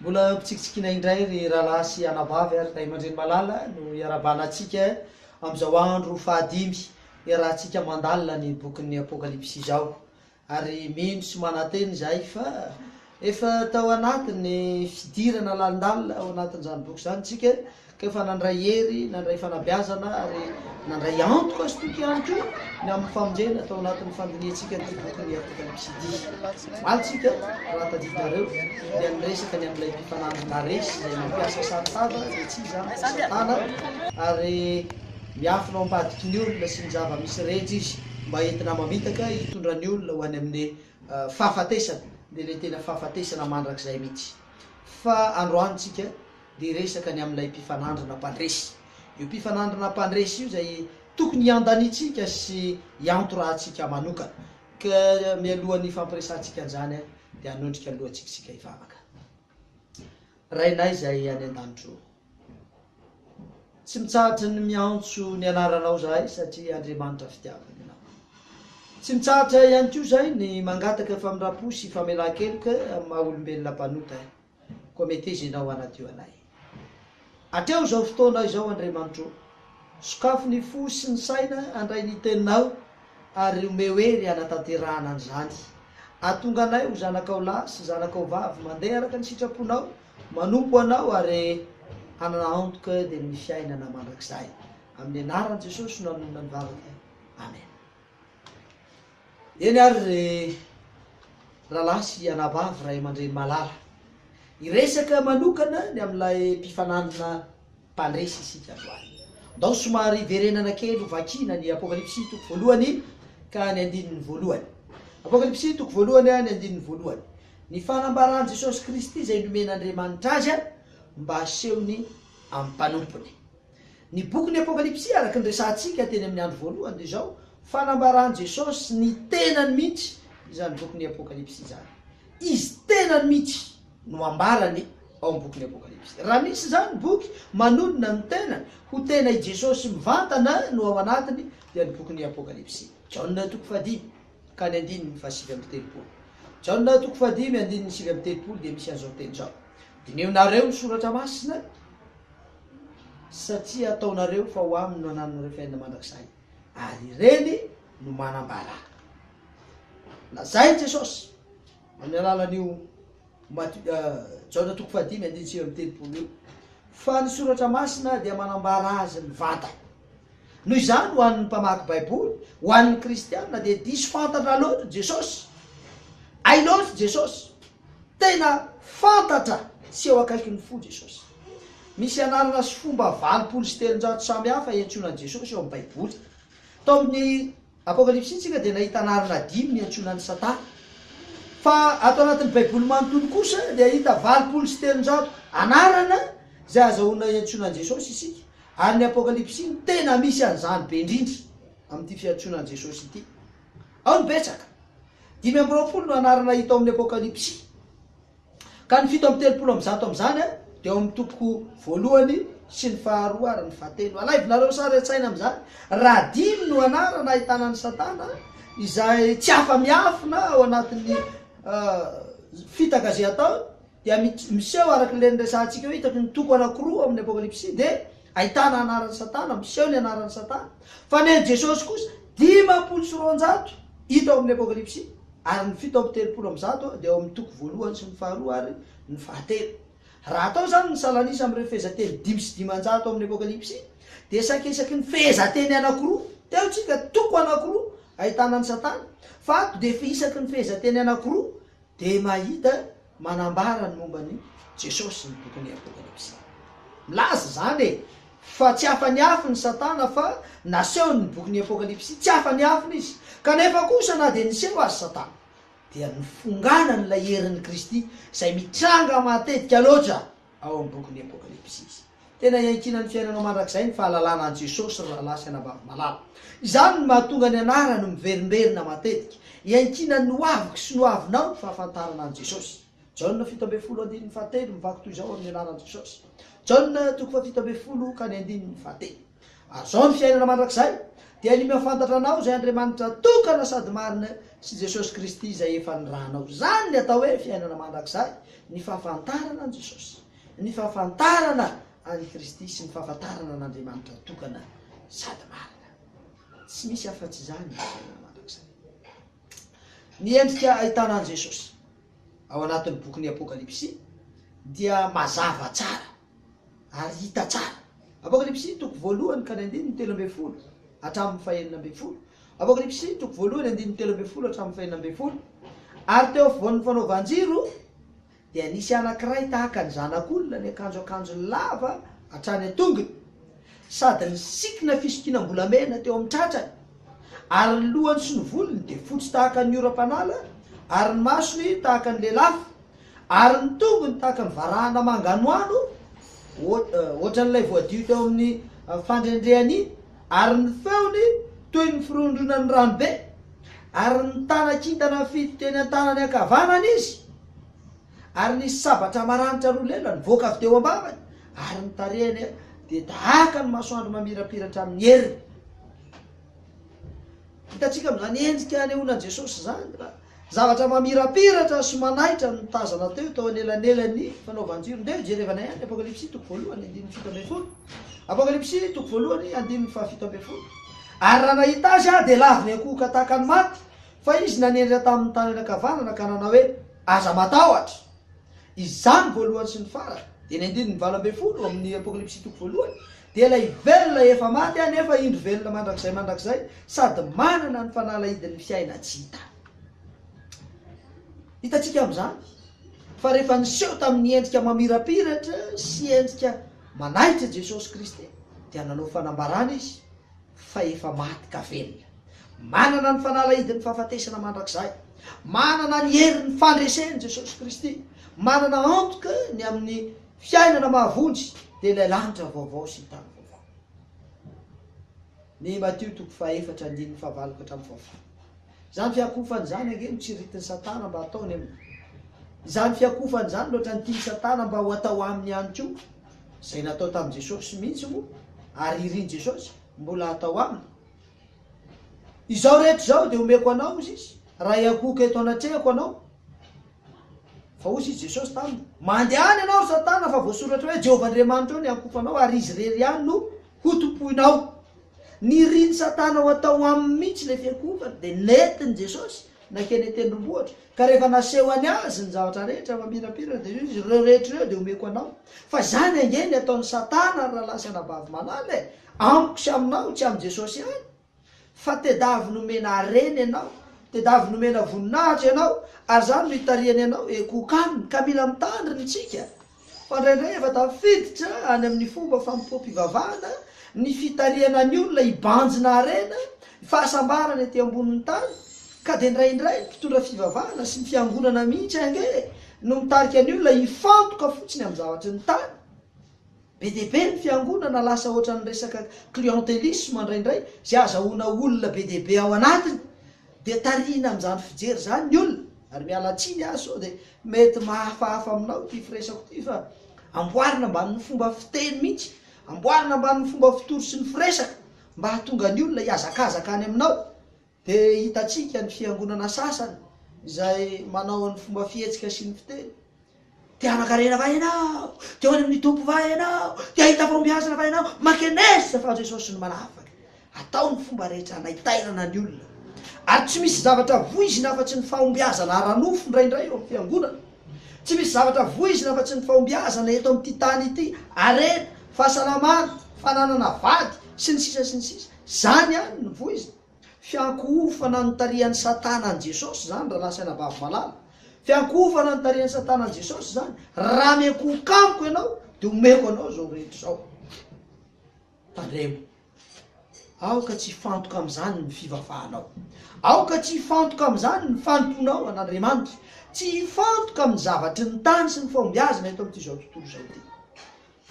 Mbola ampitsikitsikiana indray ry rahalahy sy anabavy ary ray aman-dreny malala no iarahabana antsika amin'izao andro fahadimy iarahantsika mandalina ny bokin'ny Apokalypsy izao. Ary mino sy manantena izahay fa Efa tao anatin'ny fidirana lalindalina ao anatin'izany boky izany isika ka efa nandray hery, nandray fanabeazana ary nandray antoka sy toky ihany koa ny amin'ny famonjena tao anatin'ny fandinihantsika ity boky ny Apôka ny Pisidia. Omaly isika raha tadidinareo dia niresaka ny amin'ilay mpifanandry naresy izay nampiasa saron-tava izay tsy iza fa Satana ary miafina ao am-padiky ny olona sy ny zava-misy rehetra izy mba entina mamitaka hitondra ny olona ho any amin'ny Fahafatesana dia ilay tena fahafatesana mandrakizay mihitsy. Fa androany tsika dia hiresaka ny amin'ilay mpifanandrina mpandresy. Io mpifanandrina mpandresy io izay tokony hiandanitsika sy hiantorahantsika manokana. Ka mialohan'ny hifampiresahantsika an'izany dia hanondrika ny lohantsika isika hivavaka. Rainay izay any an-danitro ô. Tsy mitsahatra ny miantso ny anaranao izahay satria Andriamanitra fitiavana ianao. Tsy mitsahatra ihany koa izahay ny mangataka famindram-po sy famelan-keloka amin'ny maha olombelona mpanota, koa meteza ianao hanadio anay. Atreo izao fotoana izao Andriamanitro, sokafo ny fo sy ny saina handray ny teninao ary omeo hery hanatanterahana an'izany. Atonga anay ho zanakao lahy sy zanakao vavy mandeha araka ny sitraponao Manompo Anao ary hanana antoka dia ny fiainana mandrakizay. Amin'ny anaran'i Jesosy no nanonona ny vavaka. Amen. Eny ary ry rahalahy sy anabavy ray aman-dreny malala, hiresaka manokana ny amin'ilay mpifananina mpandresy isika androany. Ndao somary hiverenana kely ho vakiana ny Apokalypsy toko voalohany ka ny andininy voalohany. Apokalypsy toko voalohany, ny andininy voalohany. Ny fanambaran'i Jesosy Kristy izay nomen'Andriamanitra azy mba hasehony amin'ny mpanompony. Ny bokin'ny Apokalypsy araka ny resahantsika teny amin'ny andro voalohany dia izao, fanambaran'i Jesosy ny tenany mihitsy izany bokin'ny Apokalypsy izany. Izy tenany mihitsy no ambarany ao amin'ny bokin'ny Apokalypsy. Raha misy izany boky manonona ny tena ho tena i Jesosy mivantana no ao anatiny dia ny bokin'ny Apokalypsy. Jaona toko fahadimy. ka ny andininy fahasivy amby telopolo. Jaona toko fahadimy andininy sivy amby telopolo dia misy an'izao teny izao, Dineonareo ny soratra masina, satria ataonareo fa ho aminy no anananareo fiainana mandrakizay, ary ireny no manambara. Lazain'i Jesosy amin'ny alalan'io Mat Jaona toko fahadimy andininy sivy amby telopolo io, fa ny soratra masina dia manambara azy mivantana. Noho izany, ho an'ny mpamaky Baiboly, ho an'ny Kristianina, dia diso fantatra loatra Jesosy. Hay loatra Jesosy. Tena fantatra sy eo akaikin'ny fo Jesosy. Misy anarana sy fomba valopolo sy telonjato samy hafa iantsoana an'i Jesosy ao amin'ny Baiboly. Tao amin'ny Apokalypsy isika dia nahita anarana dimy niantsoana an'i Satana. Fa ato anatin'ny Baiboly manontolo kosa dia hahita valopolo sy telonjato anarana izay hazahoana hiantsoana an'i Jesosy isika. Ary ny Apokalypsy no tena misy an'izany be indrindra amin'ity fiantsoana an'i Jesosy ity. Ao ny betsaka. Dimy amby roapolo no anarana hita ao amin'ny Apokalypsy. Ka ny fito amby telopolo amby zato amin'izany dia ao amin'ny topoko voalohany sy ny faharoa ary ny fahatelo. Alaivinareo sary an-tsaina amin'izany, raha dimy no anarana ahitana an'i Satana, izay tsy afa-miafina ao anatin'ny fitaka izay ataony, dia miseho araka ilay niresahantsika hoe hitaky ny toko anankiroa ao amin'ny Apokalypsy dia ahitana anaran'i Satana, miseho ny anaran'i Satana. Fa ny an'i Jesosy kosa, dimampolo sy roanjato hita ao amin'ny Apokalypsy. ary ny fito amby telopolo amin'ny zato dia ao amin'ny toko voalohany sy ny faharoa ary ny fahatelo. Raha atao izany ny salan'isa amin'ireo fehezanteny dimy sy dimanjato amin'ny Apokalypsy, dia saika isaky ny fehezanteny anankiroa, teo tsika, toko anankiroa, ahitana an'i Satana, fa ato dia isaky ny fehezanteny anankiroa dia mahita Manambara ny momba an'i Jesosy ny bokin'ny Apokalypsy. Milaza izany e! fa tsy afa-niafina i Satana fa nasehony ny bokin'ny Apokalypsy. Tsy afa-niafina izy. Kanefa kosa na dia niseho aza Satana dia nifonganan'ilay herin'i Kristy izay mitranga matetika loatra. ao amin'ny bokin'ny Apôkalipsy izy. Tena iankinan'ny fiainanao mandrakizay ny fahalalana an'i Jesosy, ry rahalahy sy anabavy malala. Izany no mahatonga ny anarany miverimberina matetika. Iankinan'ny hoaviko sy ny hoavinao ny fahafantarana an'i Jesosy. Jaona fito ambin'ny folo andininy fahatelo mivaky toy izao amin'ny anaran'i Jesosy. Jaona toko fahafito ambin'ny folo ka ny andininy fahatelo. Ary izao ny fiainana mandrakizay, dia ny mahafantatra anao izay Andriamanitra tokana sady marina sy Jesosy Kristy izay efa nirahanao. Izany ny atao hoe fiainana mandrakizay, ny fahafantarana an'i Jesosy, ny fahafantarana an'i Kristy sy ny fahafantarana an'Andriamanitra tokana sady marina. Tsy misy afa-tsy izany ny fiainana mandrakizay. Ny endrika ahitana an'i Jesosy ao anatin'ny bokin'ny Apokalypsy dia mazava tsara. ary hita tsara. Apokalypsy toko voalohany ka ny andininy telo ambin'ny folo hatramin'ny fahenina ambin'ny folo. Apokalypsy toko voalohany andininy telo ambin'ny folo hatramin'ny fahenina ambin'ny folo. Ary teo afovoan'ny fanaovan-jiro dia nisy anankiray tahaka ny zanak'olona niakanjo akanjo lava hatrany an-tongony, sady ny sikina fisokinam-bolamena teo amin'ny tratrany, ary ny lohany sy ny volony dia fotsy tahaka ny oram-panala, ary ny masony tahaka ny lelafo. Ary ny tongony tahaka ny varahana manganohano, hoatran'ilay voadio teo amin'ny fandrendrehana iny, ary ny feony toy ny firondronan'ny ranobe, ary nitana kintana fito teny an-tanany ankavanana izy, ary nisy sabatra maranitra roa lela nivoaka avy teo am-bavany, ary ny tarehiny dia tahaka ny masoandro mamirapiratra amin'ny heriny. Hitantsika amin'izany endrika anehoana an'i Jesosy izany. Zavatra mamirapiratra sy manaitra no tazana teo tao anelanelan'ny fanaovan-jiro. Ndeha hojerevanay ihany Apokalypsy toko voalohany andininy fito ambin'ny folo. Apokalypsy toko voalohany andininy fahafito ambin'ny folo. Ary raha nahita azy aho, dia lavo niankohoka tahaka ny maty, fa izy nanendry ahy tamin'ny tanany ankavanana ka nanao hoe, Aza matahotra! Izany voalohany sy ny farany, dia ny andininy valo ambin'ny folo amin'ny Apokalypsy toko voalohany, dia ilay velona efa maty anefa indro velona mandrakizay mandrakizay sady manana ny fanalahidin'ny fiaina tsy hita. Hitantsika amin'izany fa rehefa niseho tamin'ny endrika mamirapiratra sy endrika manaitra Jesosy Kristy dia nanao fanambarana Izy fa efa maty ka velona. Manana ny fanalahidin'ny fahafatesana mandrakizay. Manana ny herin'ny fandreseny Jesosy Kristy. Manana antoka ny amin'ny fiainana mahavonjy, dia ilay lanitra vaovao sy ny tany vaovao. Ny Matio toko fahaefatra andininy fahavalo ka hatramin'ny fahafolo. Izany fiakofana izany ange no tsiritin'i Satana mba hataony aminy. Izany fiakofana izany no ohatran'ny tian'i Satana mba ho atao aminy ihany koa. Izay natao tamin'i Jesosy mihitsy moa ary irin'i Jesosy mbola hatao aminy. Izao rehetra izao dia omeko anao, hozy izy, raha hiankohoka eto anatrehako anao. Fa hozy izy Jesosy taminy, Mandehana ianao ry Satana fa voasoratra hoe, Jehovah Andriamanitrao no hiankohoka anao ary izy irery ihany no Ho tompoinao. Nirin'i Satana ho atao aminy mihitsy ilay fiankohofana, dia nentin'i Jesosy nankeny an-tendrombohitra, ka rehefa nasehony Azy ny zavatra rehetra mamirapiratra, dia hoy Izy, Ireo rehetra ireo dia homeko anao. Fa izany ange ny ataon'i Satana, ry rahalahy sy anabavy malala e! Amiko sy aminao, tsy amin'i Jesosy ihany. Fa tedavy nomena harena ianao, tedavy nomena voninahitra ianao, ary izany no itarihany anao e Kokan, ka mila mitandrina isika fa indraindray efa tafiditra any amin'ny fomba fanompoam-pivavahana ny fitarihana ny olona hibanjina harena, fahasambarana ety ambonin'ny tany, ka dia indraindray ny mpitondra fivavahana sy ny fiangonana mihitsy ange no mitarika ny olona hifantoka fotsiny amin'ny zavatr'ny tany. Be dia be ny fiangonana lasa ohatran'ny resaka clientelisme indraindray, izay ahazahoana olona be dia be ao anatiny, dia tarihina amin'izany fijery izany ny olona, ary miala tsiny aho sao dia mety mahafahafa aminao ity firesako ity fa amboarina ambanin'ny fomba fiteny mihitsy, amboarina ambanin'ny fomba fitory sy ny firesaka mba hahatonga ny olona hihazakazaka any aminao, Dia hitantsika ny fiangonana sasany izay manao ny fomba fihetsika sy ny fiteny, Te hanan-karena va ianao? Te ho any amin'ny Tompo va ianao? Te hahita fahombiazana va ianao? Mankeneska fa Jesosy no manafaka. Atao ny fomba rehetra hanaitairana ny olona. Ary tsy misy zavatra voizina afa-tsy ny fahombiazana ara-nofo indraindray eo amin'ny fiangonana. Tsy misy zavatra voizina afa-tsy ny fahombiazana eto amin'ity tany ity, harena, fahasalamana, fananana vady, sy ny sisa sy ny sisa. Izany ihany no voizina. Fiankohofana ny tarihan'i Satana an'i Jesosy izany, rahalahy sy anabavy malala. Fiankohofana ny tarihan'i Satana an'i Jesosy izany. Raha miankohoka amiko ianao, dia omeko anao izao rehetra izao. Tandremo. Aoka tsy hifantoka amin'izany ny fivavahanao. Aoka tsy hifantoka amin'izany ny fanompoanao an'Andriamanitra. Tsy hifantoka amin'ny zavatry ny tany sy ny fahombiazana eto amin'ity izao tontolo izao ity.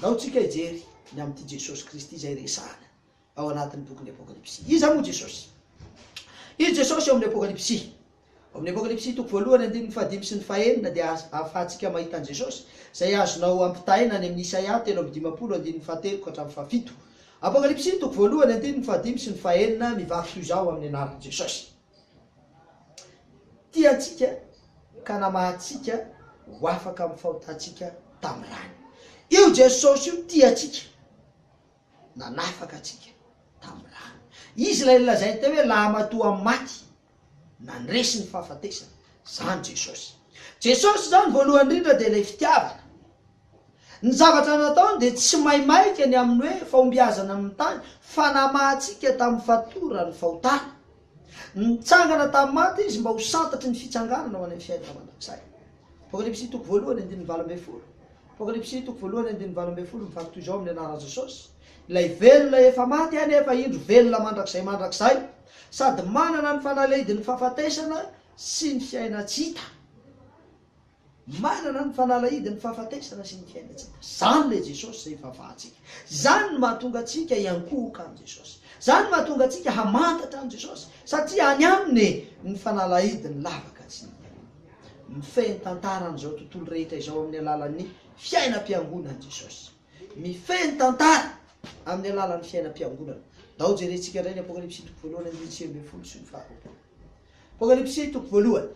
Naotsika hijery ny amin'ity Jesosy Kristy izay resahana. ao anatin'ny bokin'ny Apokalypsy. Iza moa Jesosy? Izy Jesosy ao amin'ny Apokalypsy. Ao amin'ny Apokalypsy toko voalohany andininy fahadimy sy ny fahenina dia ahafahantsika mahita an'i Jesosy, izay azonao ampitahaina any amin'ny Isaia telo amby dimampolo andininy fahatelo ka hatramin'ny fahafito. Apokalypsy toko voalohany andininy fahadimy sy ny fahenina mivaky toy izao amin'ny anaran'i Jesosy. Tia antsika ka namaha antsika ho afaka amin'ny fahotantsika tamin'ny rany. Io Jesosy io tia antsika. nanafaka antsika tamin'ny rany. Izy ilay nolazainy teo hoe lahamatoa amin'ny maty, nandresy ny fahafatesana. Izany Jesosy. Jesosy izany voalohany indrindra dia ilay fitiavana. Ny zavatra nataony dia tsy maimaika ny amin'ny hoe fahombiazana amin'ny tany fa namahantsika tamin'ny fatoran'ny fahotana. Nitsangana tamin'ny maty Izy mba ho santatry ny fitsanganana ho any amin'ny fiainana mandrakizay. Apokalypsy toko voalohany andininy valo ambin'ny folo Apokalypsy toko voalohany andininy valo ambin'ny folo Mivaky toy izao amin'ny anaran'i Jesosy Ilay velona efa maty anefa indro velona mandrakizay mandrakizay sady manana ny fanalahidin'ny fahafatesana sy ny fiaina-tsy hita Manana ny fanalahidin'ny fahafatesana sy ny fiaina-tsy hita Izany ilay Jesosy izay ivavahantsika Izany no mahatonga antsika hiankohoka an'i Jesosy Izany no mahatonga antsika hamantatra an'i Jesosy Satria any Aminy ny fanalahidin'ny lavaka tsy hita Mifehy ny tantaran'izao tontolo rehetra izao amin'ny alalan'ny fiainam-piangonan'i Jesosy. Mifehy ny tantara amin'ny alalan'ny fiainam-piangonana. Ndao jerentsika indray ny Apokalypsy toko voalohany andininy sivy ambin'ny folo sy ny faharoapolo. Apokalypsy toko voalohany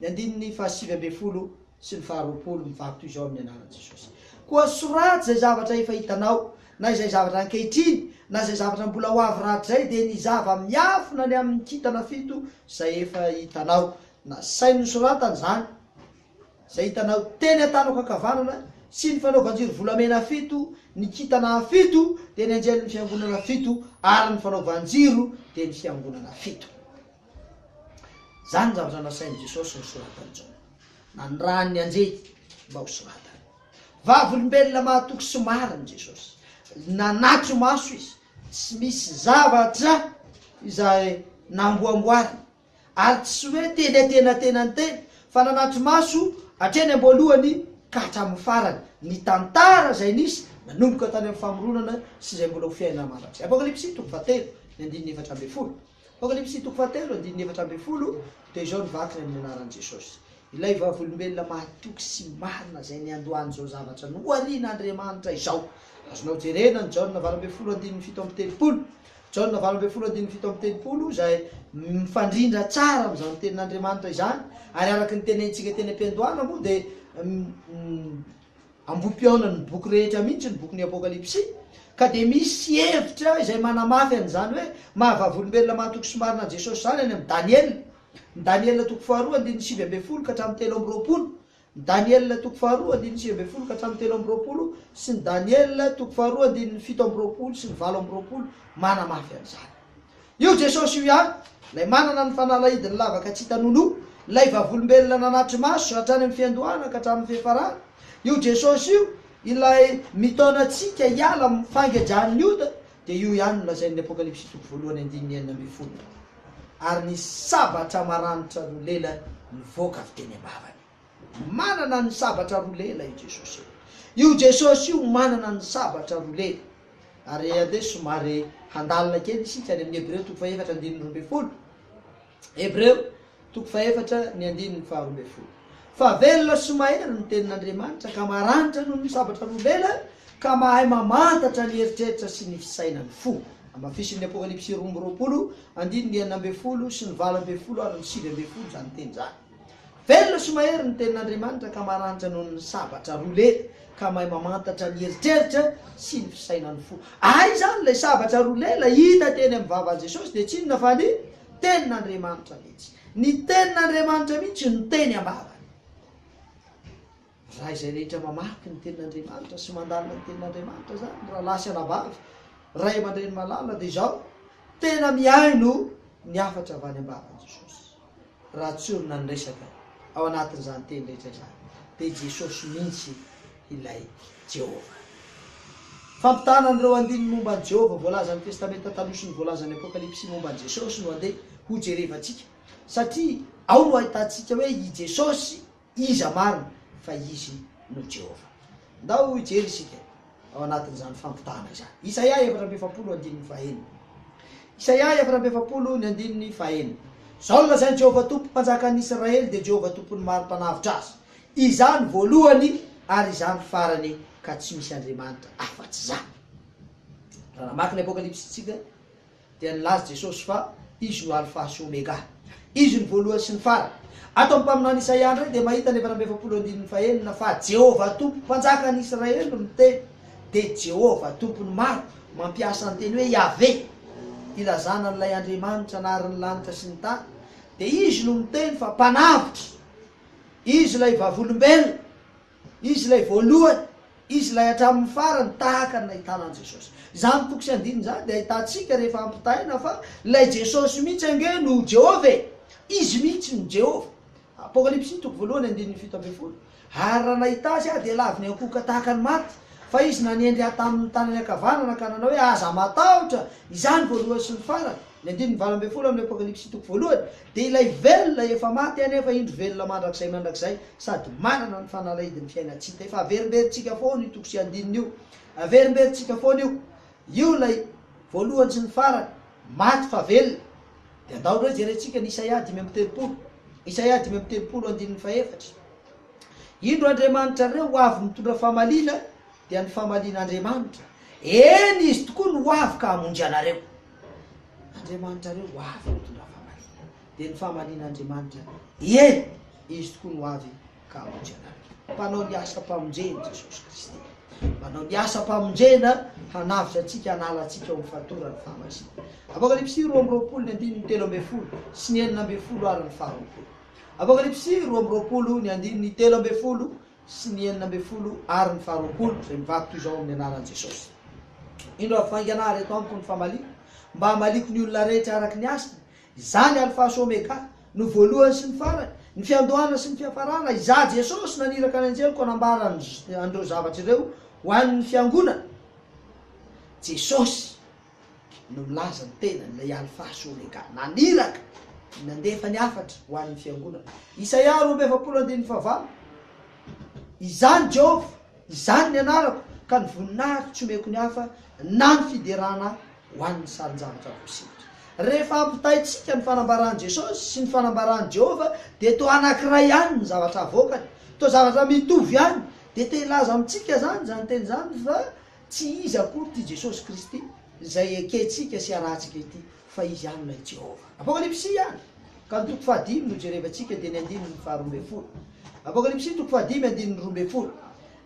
ny andininy fahasivy ambin'ny folo sy ny faharoapolo mivaky toy izao amin'ny anaran'i Jesosy. Koa soraty izay zavatra efa hitanao, na izay zavatra ankehitriny, na izay zavatra mbola ho avy rahatrizay, dia ny zava-miafina ny amin'ny kintana fito izay efa hitanao, Nasainy nosoratany izany izay hitanao teny an-tanako ankavanana sy ny fanaovan-jiro volamena fito, ny kintana fito dia ny anjelin'ny fiangonana fito ary ny fanaovan-jiro dia ny fiangonana fito. Izany ny zavatra nasain'i Jesosy nosoratan'i Jaona. Nanirahany ny anjely mba hosoratany. Vavolombelona mahatoky sy marina i Jesosy. Nanatso-maso izy. Tsy misy zavatra izay namboamboariny. Ary tsy hoe teny antenatenany teny, fa nanatri-maso hatreny am-boalohany ka hatramin'ny farany, ny tantara izay nisy nanomboka tany amin'ny famoronana sy izay mbola ho fiainana mandrakizay. Apokalypsy toko fahatelo, ny andininy efatra ambin'ny folo. Apokalypsy toko fahatelo, andininy efatra ambin'ny folo dia izao ny vakiny amin'ny anaran'i Jesosy, Ilay Vavolombelona mahatoky sy marina izay niandohany izao zavatra noharian'Andriamanitra izao. Azonao jerena ny Jaona valo ambin'ny folo andininy fito amby telopolo. Jaona valo ambin'ny folo andininy fito amby telopolo izay mifandrindra tsara amin'izany tenin'Andriamanitra izany ary araka ny tenenintsika teny am-piandohana moa dia ambohi-pihaonan'ny boky rehetra mihitsy ny bokin'ny Apokalypsy ka dia misy hevitra izay manamafy an'izany hoe maha-vavolombelona mahatoky sy marina an'i Jesosy izany any amin'ny Daniela, ny Daniela toko faharoa andininy sivy ambin'ny folo ka hatramin'ny telo amby roapolo, Ny Daniela toko faharoa andininy sivy ambin'ny folo ka hatramin'ny telo amby roapolo sy ny Daniela toko faharoa andininy fito amby roapolo sy ny valo amby roapolo manamafy an'izany. Io Jesosy io ihany, ilay manana ny fanalahidin'ny lavaka tsy hita nono, ilay vavolombelona nanatri-maso hatrany amin'ny fiandohana ka hatramin'ny fiafarana, io Jesosy io ilay mitaona antsika hiala amin'ny fangedran'ny ota Dia io ihany no lazain'ny Apokalypsy toko voalohany andininy enina ambin'ny folo, Ary ny sabatra maranitra roa lela nivoaka avy teny am-bavany. Manana ny sabatra roa lela io Jesosy io. Io Jesosy io manana ny sabatra roa lela. Ary aloha somary handalina kely isika any amin'ny Hebreo toko fahefatra andininy roa ambin'ny folo. Hebreo, toko fahefatra, ny andininy faharoa ambin'ny folo. Fa velona sy maherana ny tenin'Andriamanitra, ka maranitra noho ny sabatra nomenany, ka mahay mamantatra ny eritreritra sy ny fisainan'ny fo. Hamafisin'ny Apokalypsy roa amby roapolo, andininy enina ambin'ny folo sy ny valo ambin'ny folo ary ny sivy ambin'ny folo izany teny izany. Velona sy mahery ny Tenin'Andriamanitra ka maranitra noho ny sabatra roa lery ka mahay mamantatra ny eritreritra sy ny fisainan'ny fo. Ary izany ilay sabatra roa lela hita teny amin'ny vavan'i Jesosy dia tsy inona fa ny Tenin'Andriamanitra mihitsy. Ny Tenin'Andriamanitra mihitsy no teny am-bavany. Raha izay rehetra mamaky ny tenin'Andriamanitra sy mandalina ny tenin'Andriamanitra izany, rahalahy sy anabavy, ray aman-dreny malala, dia izao, tena mihaino ny hafatra avy any am-bavan'i Jesosy. Raha tsy olona ny resaka ao anatin'izany teny rehetra izany, dia Jesosy mihitsy ilay Jehovah. Fampitahana an'ireo andininy momba an'i Jehovah voalaza amin'ny Testamenta Taloha sy ny voalazan'ny Apokalypsy momba an'i Jesosy no andeha hojerevantsika, satria ao no ahitantsika hoe i Jesosy, Iza marina fa Izy no Jehovah? Ndao hijery isika ao anatin'izany fampitahana izany. Isaia efatra amby efapolo, andininy fahaenina. Isaia efatra amby efapolo, ny andininy fahaenina. Izao no lazain'i Jehovah Tompo, Mpanjakan'ny Israely, dia Jehovah Tompon'ny maro mpanavotra azy, Izaho no voalohany ary Izaho no farany, ka tsy misy andriamanitra afa-tsy Izaho. Raha namaky ny Apokalypsy isika, Dia nilaza Jesosy fa Izy no Alfa sy Omega. Izy no voalohany sy ny farany. Ato amin'ny mpaminany Isaia indray dia mahita ny efatra amby efapolo andininy fahenina fa Jehovah Tompo, Mpanjakan'ny Israely no miteny. Dia Jehovah Tompo ny maro mampiasa ny teny hoe Yaveh hilazana an'ilay Andriamanitra nahary ny lanitra sy ny tany. Dia Izy no miteny fa Mpanavotra. Izy ilay vavolombelona. Izy ilay voalohany, Izy ilay hatramin'ny farany, tahaka ny nahitana an'i Jesosy. Izany toko sy andininy izany dia ahitantsika rehefa ampitahaina fa ilay Jesosy mihitsy ange no Jehovah e! Izy mihitsy no Jehovah. Apokalypsy toko voalohany andininy fito ambin'ny folo, Ary raha nahita azy aho, dia laviny ankohoka tahaka ny maty, fa izy nanendry ahy tamin'ny tanany ankavanana ka nanao hoe, Aza matahotra! Izany voalohany sy ny farany. Ny andininy valo ambin'ny folo amin'io Apokalypsy toko voalohany dia ilay velona efa maty anefa indro velona mandrakizay mandrakizay sady manana ny fanalahidin'ny fiainantsika. Efa averimberintsika foana io toko sy andininy io. Averimberintsika foana io. Io ilay voalohany sy ny farany. Maty fa velona. Dia andao indray jerentsika ny Isaia dimy amby telopolo. Isaia dimy amby telopolo andininy fahefatra. Indro Andriamanitra re ho avy mitondra famaliana dia ny famalian'Andriamanitra. Eny, Izy tokoa no ho avy ka hamonjy anareo. Andriamanitrareo ho avy ny mitondra fahamarinana, dia ny fahamarinan'Andriamanitra, ie, Izy tokoa no ho avy ka hamonjy anareo. Mpanao ny asam-pamonjeny Jesosy Kristy. Manao ny asam-pamonjena hanavotra antsika, hanala antsika ao amin'ny fatoran'ny fahamasinana. Apokalypsy roa amby roapolo, ny andininy telo ambin'ny folo sy ny enina ambin'ny folo ary ny faharoapolo. Apokalypsy roa amby roapolo, ny andininy telo ambin'ny folo sy ny enina ambin'ny folo ary ny faharoapolo izay mivaky toy izao amin'ny anaran'i Jesosy. Indro avy vaingana ary eto amiko ny famaliako mba hamaliako ny olona rehetra araka ny hasiny, izany Alpha sy Omega, no voalohany sy ny farany, ny fiandohana sy ny fiafarana, izaho Jesosy naniraka ny anjeliko hanambara an'ireo zavatra ireo ho an'ny fiangonana. Jesosy. no milaza ny tenany, ilay Alfa sy Omega, naniraka, nandefa ny hafatra ho an'ny fiangonana. Isaia roa amby efapolo andininy fahavalo, Izany Jehovah, izany ny anarako, ka ny voninahiko tsy omeko ny hafa, na ny fiderana ho an'ny sarin-javatra voasikotra. Rehefa ampitaintsika ny fanambaran'i Jesosy sy ny fanambaran'i Jehovah, dia toa anankiray ihany ny zavatra avoakany, toa zavatra mitovy ihany, dia te-hilaza amintsika izany izany teny izany fa Tsy iza akory ity Jesosy Kristy izay ekentsika sy arahantsika ity, fa Izy ihany ilay Jehovah. Apokalypsy ihany ka ny toko fahadimy no jerevantsika dia ny andininy faharoa ambin'ny folo. Apokalypsy toko fahadimy andininy roa ambin'ny folo.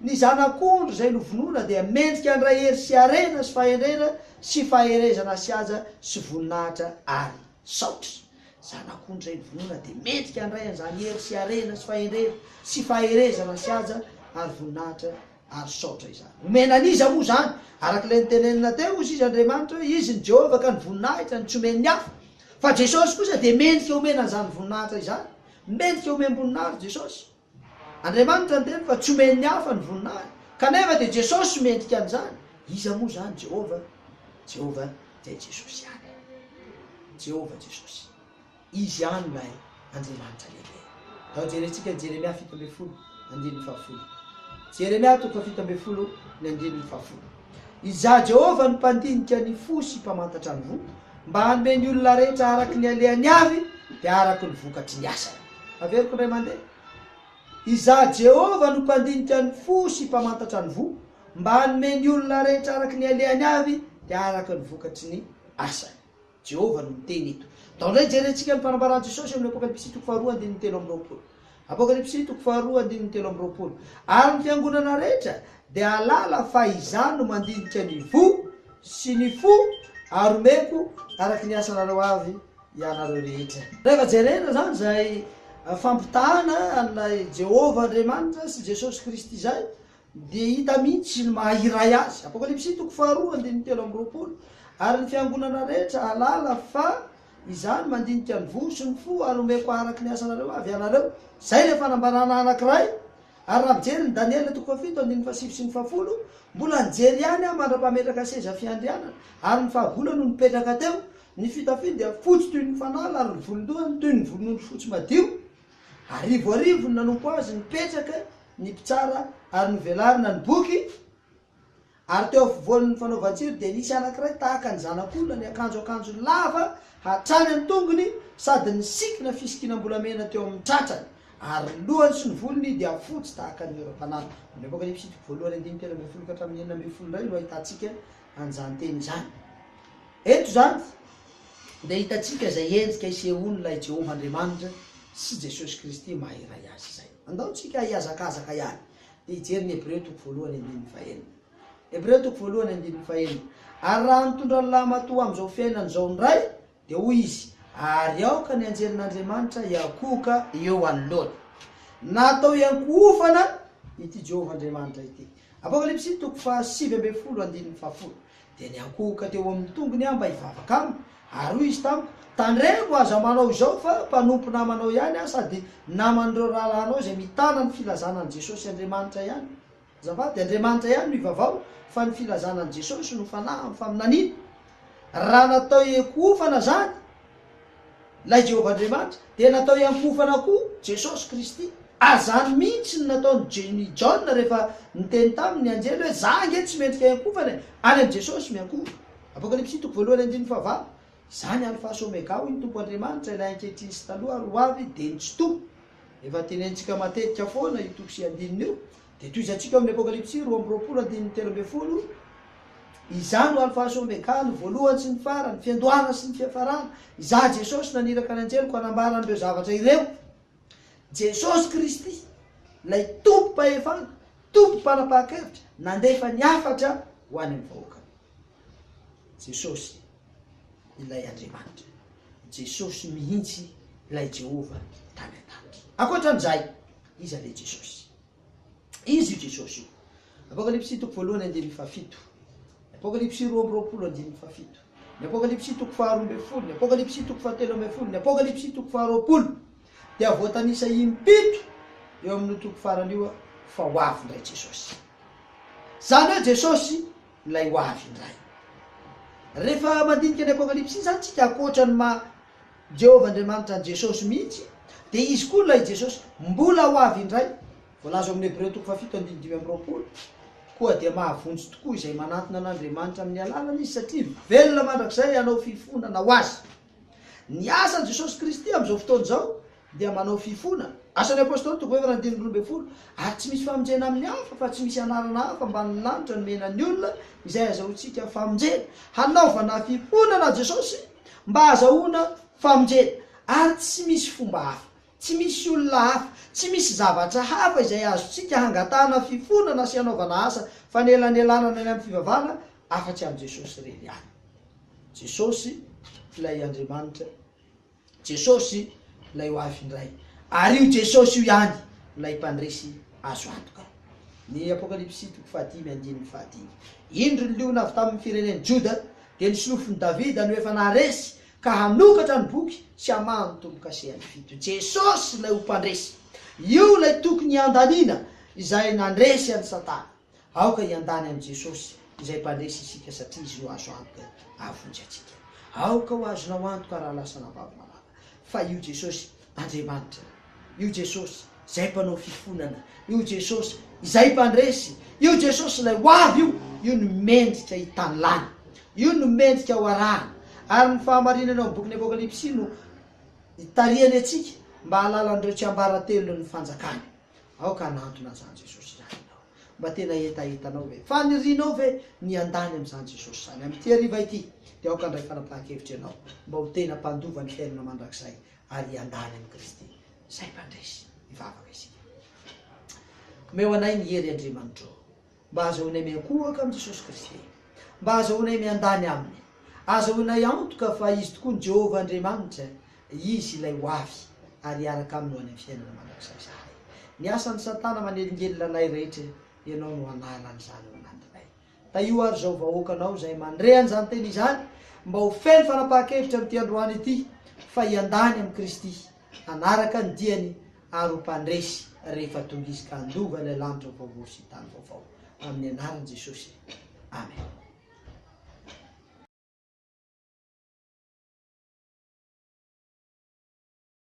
Ny Zanak'ondry izay novonoina dia mendrika handray hery sy harena sy fahendrena sy faherezana sy haja sy voninahitra ary saotra. Zanak'ondry izay novonoina dia mendrika handray an'izany hery sy harena sy fahendrena sy faherezana sy haja ary voninahitra ary saotra izany. Omena an'iza moa izany? Araka ilay notenenina teo, hoy sisa Andriamanitra hoe, Izy ny Jehovah ka ny voninahitra no tsy omen'ny hafa. Fa Jesosy kosa dia mendrika omena an'izany voninahitra izany. Mendrika omem-boninahitra Jesosy. Andriamanitra niteny fa tsy omen'ny hafa ny voninahitra, kanefa dia Jesosy mendrika an'izany. Iza moa izany Jehovah? Jehovah dia Jesosy ihany. Jehovah Jesosy. Izy ihany ilay Andriamanitra lehibe. Andao jerentsika ny Jeremia fito ambin'ny folo, andininy fahafolo. Jeremia toko fahafito ambin'ny folo, ny andininy fahafolo. Izaho Jehovah no mpandinika ny fo sy mpamantatra ny voa, mba hanome ny olona rehetra araka ny alehany avy, dia araka ny vokatry ny asany. Averiko indray mandeha. Izaho Jehovah no mpandinika ny fo sy mpamantatra ny voa, mba hanome ny olona rehetra araka ny alehany avy, dia araka ny vokatry ny asany. Jehovah no niteny eto. Tao indray hijerentsika ny fanambaran'i Jesosy amin'ny Apokalypsy toko faharoa andininy telo amby roapolo. Apokalypsy toko faharoa andininy telo amby roapolo, Ary ny fiangonana rehetra dia hahalala fa Izaho no mandinika ny voa sy ny fo, ary homeko araka ny asanareo avy ianareo rehetra. Rehefa jerena izany izay fampitahana an'i Jehovah Andriamanitra sy Jesosy Kristy izay, Dia hita mihitsy ny maha iray azy. Apokalypsy toko faharoa andininy telo amby roapolo Ary ny fiangonana rehetra hahalala fa izany mandinika ny voa sy ny fo ary homeko araka ny asanareo avy ianareo. Izay ilay fanambarana anankiray. Ary raha mijery ny Daniela toko fahafito andininy fahasivy sy ny fahafolo, mbola nijery ihany aho mandra-pametraka seza fiandrianana, ary ny fahagola no nipetraka teo. Ny fitafiny dia fotsy toy ny fanala ary ny volon-dohany toy ny volon'ondry fotsy madio. Arivoarivo no nanompo azy nipetraka ny mpitsara ary novelarina ny boky ary teo afovoan'ny fanaovan-tsiro dia nisy anankiray tahaka ny zanak'olona niakanjo akanjo lava hatrany an-tongony sady nisikina fisikinam-bolamena teo amin'ny tratrany ary ny lohany sy ny volony dia fotsy tahaka ny oram-panahy. Mamepoka ny episitika voalohany andininy telo ambin'ny folo ka hatramin'ny enina ambin'ny folo indray no ahitantsika an'izany teny izany. Eto izany dia hitantsika izay endrika isehoan'ilay Jehovah Andriamanitra sy Jesosy Kristy maha iray azy izay. Andao tsika hihazakazaka ihany dia hijery ny Hebreo toko voalohany andininy fahenina. Hebreo toko voalohany andininy fahenina. Ary raha nitondra ny lamatoa amin'izao fiainana izao indray Dia hoy izy, Ary aoka ny anjelin'Andriamanitra hiankohoka eo anoloany. Natao hiankohofana ity Jehovah Andriamanitra ity. Apokalypsy toko fahasivy ambin'ny folo andininy fahafolo. Dia niankohoka teo amin'ny tongony aho mba hivavaka aminy, ary hoy izy tamiko, Tandremo, aza manao izao, fa mpanompo namanao ihany aho sady naman'ireo rahalahinao izay mitana ny filazana an'i Jesosy Andriamanitra ihany. Azafady, Andriamanitra ihany no ivavao fa ny filazana an'i Jesosy no fanahy amin'ny faminaniana. Raha natao hiankohofana izany ilay Jehovah Andriamanitra, dia natao hiankohofana koa Jesosy Kristy. Azany mihitsy ny nataon'i Jny Jaona rehefa niteny taminy ny anjely hoe, Za ange tsy mendrika hiankohofana e! Any amin'i Jesosy miankohofa. Apokalypsy toko voalohany andininy fahavalo, Izaho ny Alfa sy Omega, hoy ny Tompo Andriamanitra, ilay ankehitriny sy taloha ary hoavy, dia ny Tsitoha. Efa tenenitsika matetika foana io toko sy andininy io, dia tohizantsika ao amin'ny Apokalypsy roa amby roapolo andininy telo ambin'ny folo, Izaho no Alfa sy Omega, ny voalohany sy ny farany, ny fiandohana sy ny fiafarana. Izaho Jesosy naniraka ny anjeliko hanambara an'ireo zavatra ireo. Jesosy Kristy, ilay Tompom-pahefana, Tompom-panapahakevitra, nandefa ny hafatra ho any amin'ny vahoakany. Jesosy. ilay Andriamanitra, Jesosy mihitsy ilay Jehovah tany an-danitra. Ankoatra an'izay, iza ilay Jesosy? Izy io Jesosy io. Apokalypsy toko voalohany andininy fahafito. Apokalypsy roa amby roapolo andininy fahafito. Ny Apokalypsy toko faharoa ambin'ny folo, ny Apokalypsy toko fahatelo ambin'ny folo, ny Apokalypsy toko faharoapolo dia voatanisa impito eo amin'io toko farany io fa ho avy indray Jesosy. Izany hoe Jesosy Ilay ho avy indray. Rehefa mandinika ny Apokalypsy izany isika, ankoatra ny maha Jehovah Andriamanitra an'i Jesosy mihitsy, dia izy koa, ilay Jesosy, mbola ho avy indray. Voalaza ao amin'ny Hebreo toko fahafito andininy dimy amby roapolo, Koa dia mahavonjy tokoa izay manantona an'Andriamanitra amin'ny alalany izy, satria velona mandrakizay hanao fifonana ho azy. Ny asan'i Jesosy Kristy amin'izao fotoana izao dia manao fifoana. Asan'ny Apôstôly toko fahaefatra andininy roa ambin'ny folo Ary tsy misy famonjena amin'ny hafa, fa tsy misy anarana hafa ambanin'ny lanitra nomena ny olona izay hahazahoantsika famonjena. Hanaovana fifoana na Jesosy mba hahazahoana famonjena. Ary tsy misy fomba hafa, tsy misy olona hafa, tsy misy zavatra hafa izay azontsika hangatahana fifoana na sy hanaovana asa fanelanelanana ny amin'ny fivavahana afa-tsy amin'i Jesosy irery ihany. Jesosy ilay Andriamanitra, Jesosy ilay ho avy indray, ary io Jesosy io ihany ilay mpandresy azo antoka. Ny Apokalypsy toko fahadimy andininy fahadimy. Indro ny liona avy tamin'ny firenen'i Joda, dia ny solofon'i Davida no efa naharesy, ka hanokatra ny boky sy hamaha ny tombo-kasehany fito. Jesosy ilay ho mpandresy. Io ilay tokony handaniana izay nandresy an'i Satana. Aoka hiandany amin'i Jesosy izay mpandresy isika satria Izy no azo antoka hahavonjy antsika. Aoka ho azonao antoka raha lasa anabavy malala fa io Jesosy Andriamanitra io, io Jesosy izay mpanao fifonana, io Jesosy izay mpandresy, io Jesosy ilay ho avy io, io no mendrika hitanilany, io no mendrika ho arahana. Ary ny fahamarinana ao amin'ny bokin'ny Apokalypsy no itarihany antsika mba hahalala an'ireo tsiambaratelon'ny fanjakany. Aoka hanantona an'izany Jesosy izany ianao. Mba tena hetahetanao ve? Fanirianao ve ny handany amin'izany Jesosy izany? Amin'ity hariva ity, dia aoka handray fanapahan-kevitra ianao mba ho tena mpandova ny fiainana mandrakizay ary handany amin'i Kristy izay mpandresy. Hivavaka isika. Omeo anay ny hery, Andriamanitro. Mba azahoanay miankohoka amin'i Jesosy Kristy e! Mba azahoanay miandany Aminy! Azahoanay antoka fa Izy tokoa ny Jehovah Andriamanitra, Izy ilay ho avy, ary hiaraka Aminy ho any amin'ny fiainana mandrakizay izany. Ny asan'i Satana manelingelina anay rehetra, Ianao no hanala an'izany ao anatinay. Tahio àry izao vahoaka Anao izay mandre an'izany teny izany, mba ho feno fanapahan-kevitra amin'ity androany ity, fa hiandany amin'i Kristy, hanaraka ny diany, ary ho mpandresy rehefa tonga izy ka handova ilay lanitra vaovao sy tany vaovao amin'ny anaran'i Jesosy. Amen.